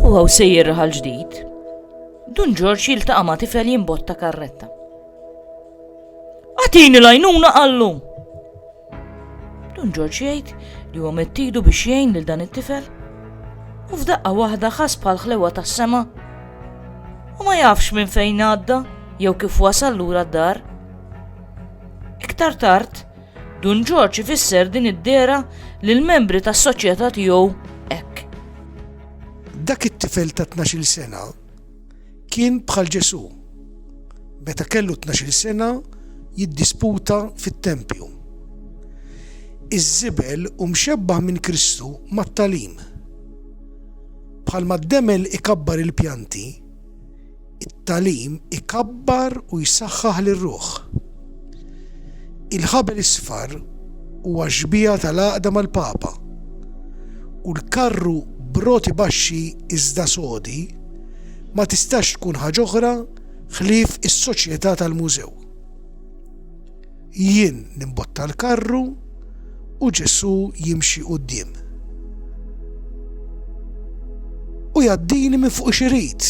U għaw sejjer raħal ġdid, Dun Ġorġ jiltaqa' ma' tifel jimbotta karretta. Għatini lajnuna għallu! Dun Ġorġ jgħid li huwa mettidu biex jgħin lil dan it-tifel u f'daqqa waħda ħas bħal ħlewa tas-sema u ma jafx minn fejn għadda jew kif wasal lura d-dar. Iktar tard, Dun Ġorġ ifisser din id-dehra lill-membri tas-soċjetà tiegħu hekk. Dak it-tifel ta' tnax-il sena kien bħal Ġesù. Meta kellu tnax-il sena jiddisputa fit-tempju. Iż-żibel hu mxebbah minn Kristu mat-tagħlim. Bħalma d-demel ikabbar il-pjanti, It-tagħlim ikabbar u jsaħħaħ lir-ruħ. Il-Ħabel Isfar huwa xbieha tal-għaqda mal-Papa, u l-karru b'roti baxxi iżda sodi ma tistax tkun ħaġ'oħra ħlief is-soċjetà tal-mużew. Jien nimbotta l-karru u Ġesù jimxi quddiem. U jaddini minn fuq xirid,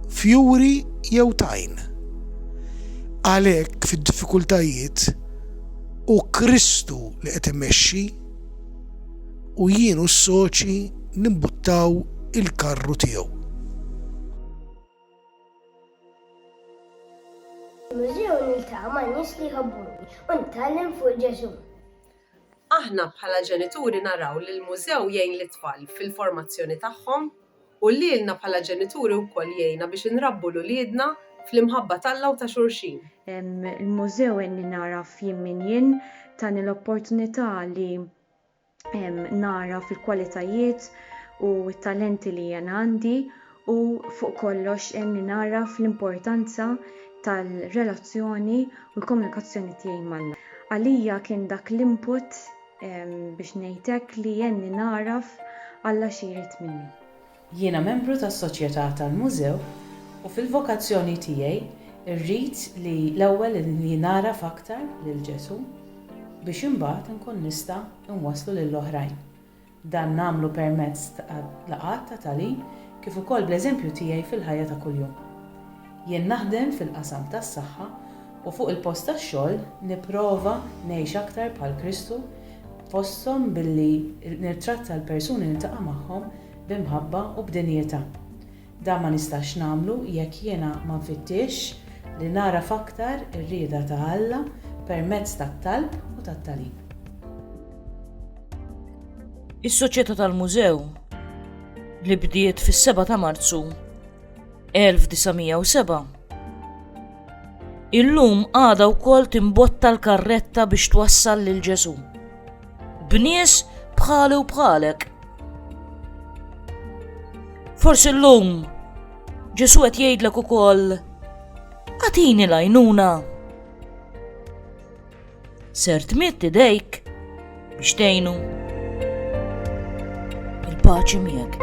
fjuri jew tajn. Għalhekk fid-diffikultajiet u Kristu li qed imexxi u jien u s-soċi nimbuttaw il-karru tiegħu. Mużew niltaqa' ma' nies li jħobbuni u nitgħallem fuq Ġesù. Aħna bħala ġenituri naraw li l-mużew jgħin lit-tfal fil-formazzjoni tagħhom u lilna bħala ġenituri wkoll jgħinna biex inrabbu 'l uliedna fl-imħabba t'Alla u ta' xulxin. Il-mużew għenni nagħraf jien min jien, tani l-opportunità li nara fil-kwalitajiet u t-talenti li jiena għandi u fuq kollox għenni nagħraf l-importanza tal-relazzjoni u l-komunikazzjoni tiegħi ma' Alla. Għalija kien dak l-input biex ngħid hekk li għenni nagħraf Alla xi jrid minni. Jiena membru tas-Soċjetà tal-Mużew u fil-vokazzjoni tiegħi rrid li l-ewwel li nagħraf aktar lil Ġesù biex imbagħad inkun nista' inwasslu lil oħrajn. Dan nagħmlu permezz ta' laqgħat ta' tagħlim kif ukoll bl-eżempju tiegħi fil-ħajja ta' kuljum. Jien naħdem fil-qasam tas-saħħa u fuq il-post tax-xogħol nipprova ngħix aktar bħal Kristu fosthom billi nittratta l-persuni li niltaqa' magħhom b'imħabba u b'dinjità. Dan ma nistax nagħmlu jekk jiena ma nfittixx li nagħraf aktar ir-rieda ta' Alla permezz tat-talb u tat-tagħlim. Is-Soċjetà tal-Mużew, li bdiet fis-7 ta' Marzu 1907, illum għadha wkoll timbotta l-karretta biex twassal lil Ġesù. b'nies bħali u bħalek. Forsi l-lum, ġesu għet jgħidlek u koll, għatini lajnuna. Ser tmitt idejk biex tejnu. Il-paċi miegħek.